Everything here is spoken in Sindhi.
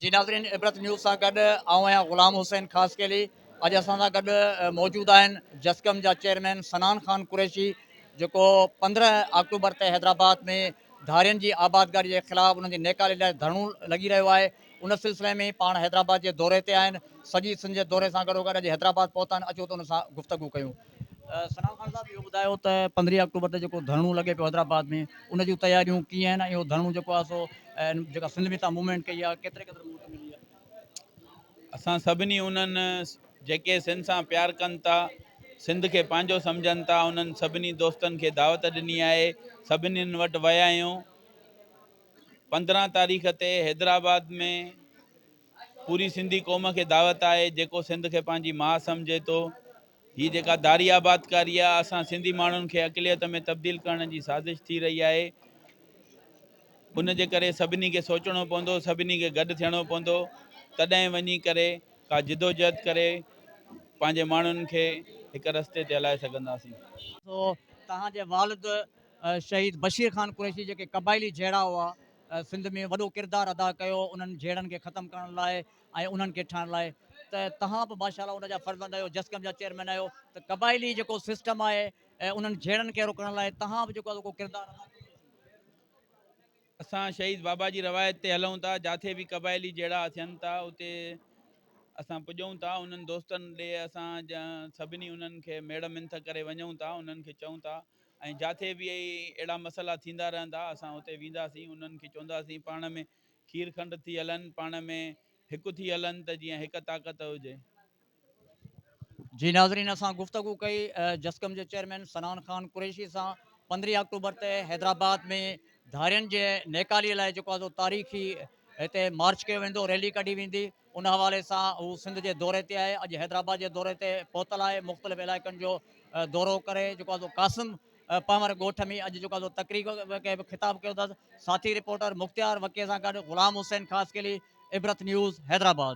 جي ناظرين عبرت نيوز سان گڏ آئون آهيان غلام حسين خاص کيلي اڄ اسان سان گڏ موجود آهن جسڪم جا چيئرمين سنان خان قريشي جيڪو پندرهن آڪٽوبر تي حيدرآباد ۾ ڌارين جي آبادگاري جي خلاف انهن جي نيڪالي لاء ڌرڻو لڳي رهيو آهي ان سلسلي ۾ پاڻ حيدرآباد جي دوري تي آهن، سڄي سنڌ جي دوري سان گڏوگڏ اڄ حيدرآباد پهتا آهن، اچو ته ان سان گفتگو ڪيون. سلام خان صاحب اهو ٻڌايو ته پندرهين آڪٽوبر تي جيڪو ڌرڻو لڳي پيو حيدرآباد ۾ ان جون تياريون ڪيئن آهن ۽ اهو ڌرڻو جيڪو آهي سو جيڪا سنڌ ۾ تان موومينٽ ڪئي آهي ڪيتري قدر مهلت ملي آهي؟ اسان سڀني انهن جيڪي سنڌ سان پيار ڪن ٿا، سنڌ کي پنهنجو سمجهن ٿا انهن سڀني دوستن کي دعوت ڏني آهي، سڀني وٽ ويا آهيون، پندرهن تاريخ تي حيدرآباد ۾ پوري سنڌي قوم کي دعوت آهي جيڪو سنڌ کي پنهنجي ماء سمجهي ٿو هي جيڪا داري آبادڪاري آهي اسان سنڌي ماڻهن کي اقليت ۾ تبديل ڪرڻ جي سازش ٿي رهي آهي ان جي ڪري سڀني کي سوچڻو پوندو سڀني کي گڏ ٿيڻو پوندو تڏهن وڃي ڪري ڪا جدوجهد ڪري پنهنجي ماڻهن کي هڪ رستي تي هلائي سگهنداسين سو توهان جي والد شهيد بشير خان قريشي جيڪي قبائلي جهيڙا هئا سنڌ ۾ وڏو ڪردار ادا ڪيو انهن جهيڙن کي ختم ڪرڻ لاء ۽ انهن کي ٺاهڻ لاء ته تهان به ماشاءالله ان جا فرزند آهيو جسقم جا چيئرمين آهيو ته قبائلي جيڪو سسٽم آهي انهن جهيڙن کي روڪڻ لاء تهان به جيڪو ادا ڪردار اسان شهيد بابا جي روايت تي هلون ٿا جاٿي به قبائلي جهيڙا ٿين ٿا اتي اسان پڄون ٿا انهن دوستن ڏي اسان سڀني انهن کي ميڙ منٿ ڪري وڃون ٿا انهن کي چئون ٿا ۽ جاٿي به اهڙا مسئلا ٿيندا رهندا اسان اتي وينداسين انهن کي چونداسين پاڻ ۾ کير کنڊ ٿي هلن پاڻ ۾ هڪ ٿي هلن ته جيئن هڪ طاقت هجي. جي ناظرين اسان گفتگو ڪئي جسقم جي چيئرمين سنان خان قريشي سان پندرهين آڪٽوبر تي حيدرآباد ۾ ڌارين جي نيڪالي لاء جيڪو آزو تاريخي هتي مارچ ڪيو ويندو ريلي ڪڍي ويندي. ان حوالي سان هو سنڌ جي دوري تي آهي، اڄ حيدرآباد جي دوري تي پهتل آهي، مختلف علائقن جو دورو ڪري جيڪو آهي سو قاسم پنهور ڳوٺ ۾ اڄ جيڪو آهي سو تقريب کي به خطاب ڪيو اٿس، ساٿي رپورٽر مختيار وڪيء سان گڏ غلام حسين خاصخيلي، عبرت نيوز، حيدرآباد.